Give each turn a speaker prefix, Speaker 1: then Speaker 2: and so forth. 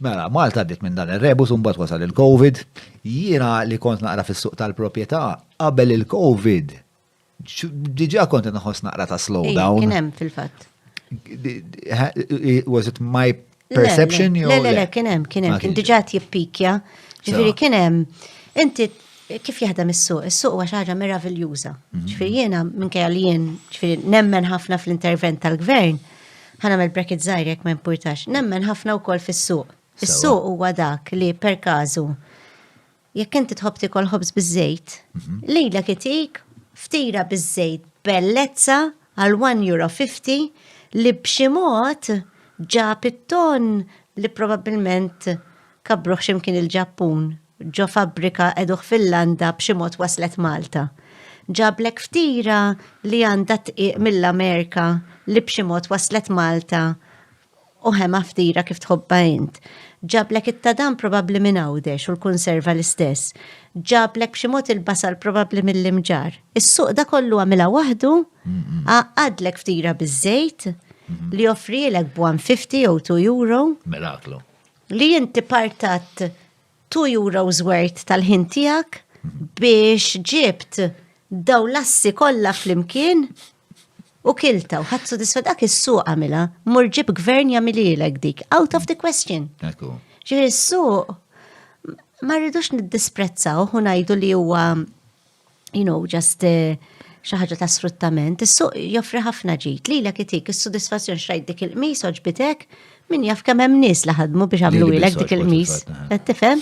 Speaker 1: Mela, Malta għaddiet minn dan ir-rebus u mbagħad wasal il-Covid. Jiena li kont naqra fis-suq tal-proprjetà qabel il-Covid diġà kont inħoss naqra ta' slowdown. Kien hemm fil-fatt. Was it my perception? Le, le, le, kien hemm,
Speaker 2: kien hemm, kien diġà jippikja. Ġifieri kien hemm. Inti kif jaħdem is-suq? Is-suq huwa xi ħaġa meraviljuża. Mhm. Ġifieri jiena minkejja li jien ġifieri nemmen ħafna fl-intervent tal-gvern, Ħa nagħmel bracket żgħir jekk ma jimpurtax. Nemmen ħafna wkoll fis-suq. Is-suq huwa dak li per każu jekk inti tħobb tikol ħobż biż-żejt, mhm. lejla kitik ftira biż-żejt bellezza għal 1 euro 50 li b'xi mod ġab it-ton li probabbilment kabruħ ximkien il-Ġappun ġo fabbrika qegħduh fil-landa b'xi mod waslet Malta. Ġablek ftira li għandha tqiq mill-Amerka li b'xi mod waslet Malta u ħema ftira kif tħobbha int. Ġablek it-tadam probabbli minn Għawdex u l-kunserva l-istess. Ġablek b'xi mod il-basal probabbli mill-Imġarr. Is-suq da kollu għamilha waħdu, għaqqadlek ftira biż-żejt li joffrielek b'150 jew 2 euro. Miraklu.
Speaker 1: Li inti
Speaker 2: partat 2 euros worth tal-ħin tiegħek biex ġibt daw lassi kollha flimkien u kilta u ħadd sodisfa dak is-suq għamilha, mur ġib gvern jagħmililek dik, out of the question. Ġifieri s-suq ma rridux niddisprezzaw u ngħidu li huwa you know, just eh, xi ħaġa ta' sfruttament, is-suq joffri ħafna ġid li lek itik is-sodisfazzjon xrajt dik il-qmis oġbitek min jaf kemm hemm nies li ħadmu biex għamlu ilek dik il-qmis. Qed tifhem?